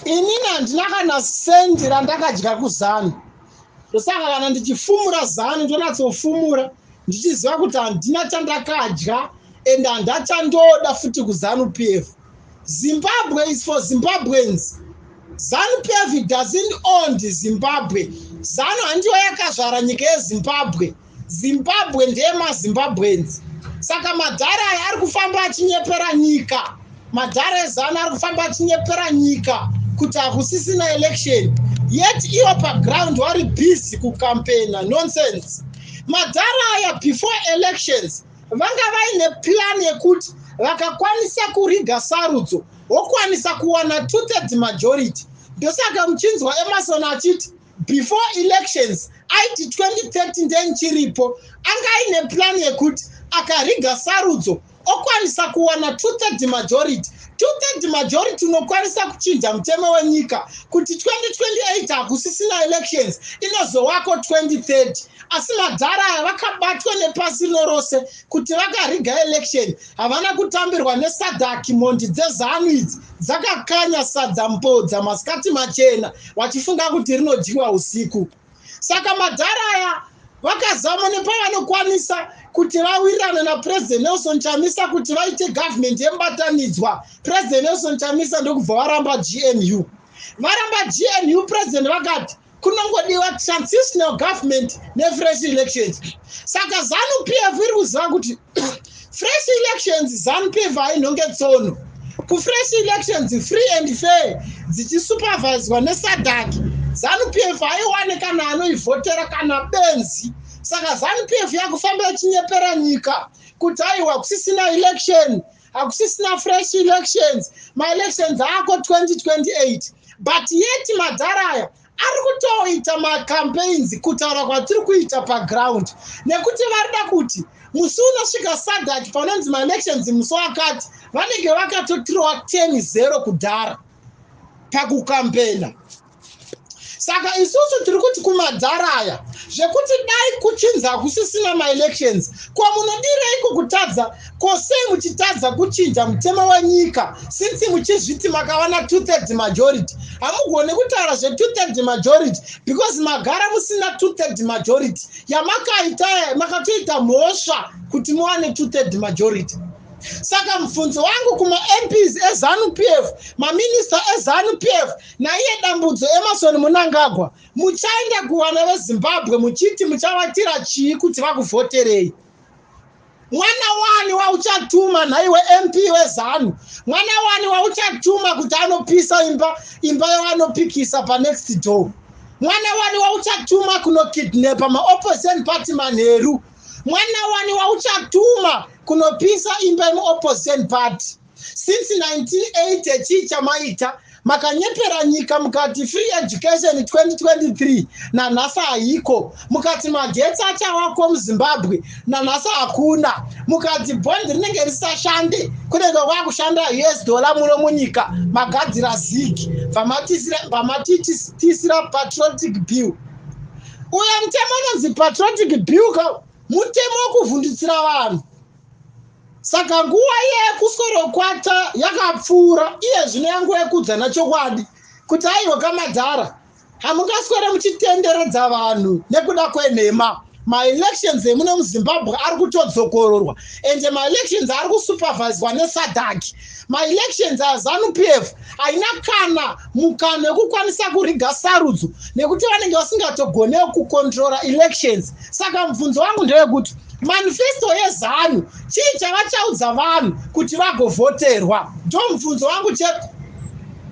inini handina kana sendi randakadya kuzanu ndosaka kana ndichifumura zanu ndonatsofumura ndichiziva kuti handina chandakadya and handachandoda futi kuzanu p f zimbabwe is for zimbabweans zanu p f doesn't owned zimbabwe zanu handiyo yakazvara nyika yezimbabwe zimbabwe ndeyemazimbabweans saka madhara aya ari kufamba achinyepera nyika madhara ezana ari kufamba achinyepera nyika kuti hakusisina election yet iwo paground wari busy kukampena nonsense madhara aya before elections vanga vaine plan yekuti vakakwanisa kuriga sarudzo wokwanisa kuwana two-third majority ndosaka muchinzwa emarson achiti before elections aiti 2030 ndenchiripo anga aine plan yekuti akariga sarudzo okwanisa kuwana two-third majority two-third majority unokwanisa kuchinja mutemo wenyika kuti 2028 hakusisina elections inozowako 2030 asi madhara aya vakabatwa nepasi rino rose kuti vakariga election havana kutambirwa nesadhaki mhondi dzezanu idzi dzakakanya sadza mpodza masikati machena vachifunga kuti rinodyiwa usiku saka madhara aya vakazama nepavanokwanisa kuti vawirirane napresident nelson chamisa kuti vaite government yemubatanidzwa president nelson chamisa ndokubva varamba gnu varamba gnu president vakati kunongodiwa transitional government nefresh elections saka zanu p f iri kuziva kuti fresh elections zanu p f hainhonge tsono kufresh elections free and fair dzichisuperviswa nesadak zanu p f haiwane kana anoivhotera kana benzi saka zanu p f yakufamba ichinyepera nyika kuti aiwa kusisina election hakusisina fresh elections maelections ako 2028 but yet madhara aya ari kutoita macampaigns kutaura kwatiri kuita paground nekuti vari da kuti musi unosvika sadak panonzi maelections musi wakati vanenge vakatotirowa 10 zero kudhara pakukampena saka isusu tiri kuti kumadhara aya zvekuti dai kuchinzi hakusisina maelections ko munodireiko kutadza ko sei muchitadza kuchinja mutemo wenyika since muchizviti makawana two third majority hamugone kutaura zvetwo third majority because magara musina two third majority yamakaita makatoita mhosva kuti muwane two third majority saka mubvunzo wangu kumamps ezanu p f maminista ezanu p f Naiye Dambudzo Emerson Munangagwa, muchaenda kuwana veZimbabwe muchiti muchavatira chii kuti vakuvhoterei? Mwana wani wauchatuma nhaiwe MP weZanu? Mwana wani wauchatuma kuti anopisa imba imba yawanopikisa panext door? Mwana wani wauchatuma kunokidnapa maopposition party manheru? Mwana wani wauchatuma kunopisa imba yemuopposition party? since 1980 chii chamaita makanyepera nyika mukati free education 2023 nanhasi haiko mukati magetsi achawako muzimbabwe nanhasi hakuna mukati bond rinenge risashande kunenge kwakushanda us dollar muno munyika magadzira zigi vamatitisira patriotic bill uyo mutemo unonzi patriotic bill ka mutemo wekuvhundutsira vanhu saka nguva yekusorokwata yakapfuura iye zvino yangu yekudzana chokwadi kuti aiwa kamadhara hamungaswere muchitenderedza vanhu nekuda kwenhema maelections emuno muzimbabwe ari kutodzokororwa ende maelections ari kusuperviswa nesadaki maelections azanu pf haina kana mukano wekukwanisa kuriga sarudzo nekuti vanenge vasingatogonewo kucontrola elections saka mubvunzo wangu ndewekuti manifesto yezanu chii chavachaudza vanhu kuti vagovhoterwa ndo mubvunzo wangu chete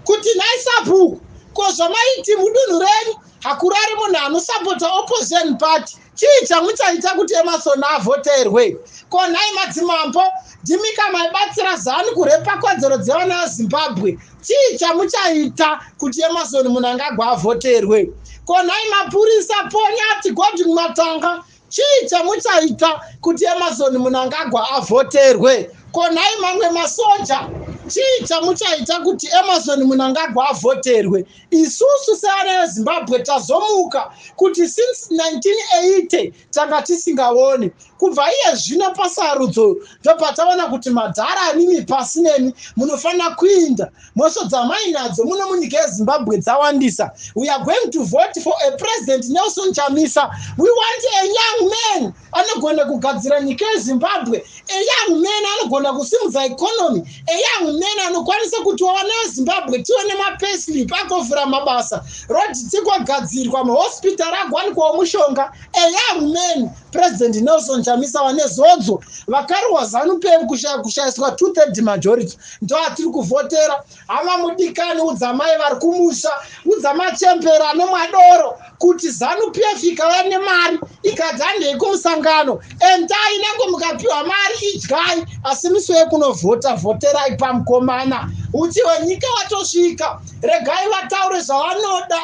kuti nhai sabhuku ko zvamaiti mudunhu renyu hakurari munhu anosapota opposition party Chii chamuchaita kuti Emerson avhoterwe? Ko nhai madzimambo, ndimika maibatsira zanu kurepa kodzero dzevana veZimbabwe. Chii chamuchaita kuti Emerson Mnangagwa avhoterwe? Ko nhai mapurisa, Ponyati, Godwin Matanga, chii chamuchaita kuti Emerson Mnangagwa avhoterwe? Ko nhai mamwe masoja, chii chamuchaita kuti Emerson Mnangagwa avhoterwe? Isusu seana eZimbabwe tazomuka kuti since 1980 tanga tisingaone. Kubva iye zvino pasarudzo ndobva taona kuti madhara animi pasi nemi munofanira kuinda. Mhosvo dzamainadzo muno munyika yeZimbabwe dzawandisa. We are going to vote for a president Nelson Chamisa. We want a young man anogona kugadzira nyika yezimbabwe eyoung man anogona kusimudza economy eyoung man anokwanisa kuti waonayo zimbabwe tive nemapeslip agovhura mabasa rod dzikwagadzirwa mahospital agwanikwawo mushonga eyoung man president nelson chamisa vane zodzo vakarohwa zanupem kushayiswa two third majority ndoatiri kuvhotera Hama mudikani udza mai vari kumusha udza machembera nemwadoro kuti zanu pf ikauya nemari ikati handei kumusangano endai nango mukapiwa mari idyai asi miso yekunovhota vhoterai pamukomana uti wenyika watosvika regai vataure zvavanoda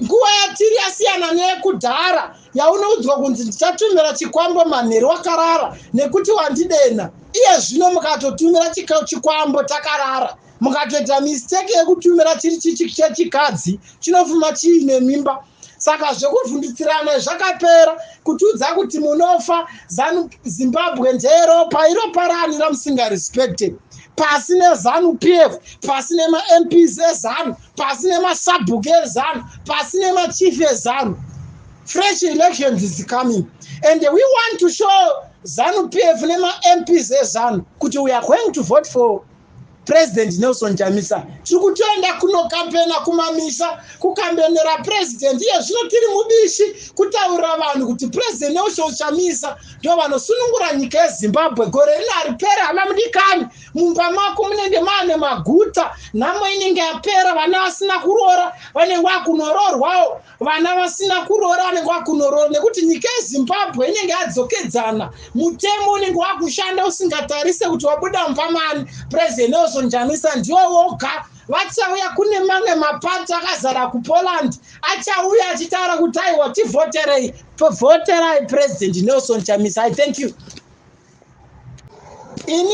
nguva yatiri yasiyana neyekudhara yaunoudzwa kunzi ndichatumira chikwambo manheru wakarara nekuti wandidenha iye zvino mukatotumira chikwambo takarara mukatoita misteki yekutumira chiri chechikadzi chinofuma chiine mimba saka zvekuvhundutsirana zvakapera kutiudza kuti munofa zanu zimbabwe ndeyeropa iropa rani ramusingarespecte pasi nezanu p f pasi nemamps ezanu pasi nemasabhuku ezanu pasi nemachief ezanu fresh elections is coming and we want to show zanu pf nemamps ezanu kuti we are going to vote for president nelson chamisa tiri kutoenda kunokambena kumamisa kukambenera president iye zvino tiri mubishi kutaurira vanhu kuti president nelson chamisa ndo vanosunungura nyika yezimbabwe gore rino haripere hama mudikani mumba mako munenge maane maguta nhamo inenge yapera vana vasina kuroora vanenge vakunoroorwawo vana vasina kuroora vanenge vakunoroora nekuti nyika yezimbabwe inenge yadzokedzana mutemo unenge wakushanda usingatarise kuti wabuda mumba mani president nelson janisa ndiwo woga vachauya kune mamwe mapati akazara kupoland achauya achitaura kuti aiwa tivhoterei vhoterai president nelson chamisa i thank you ini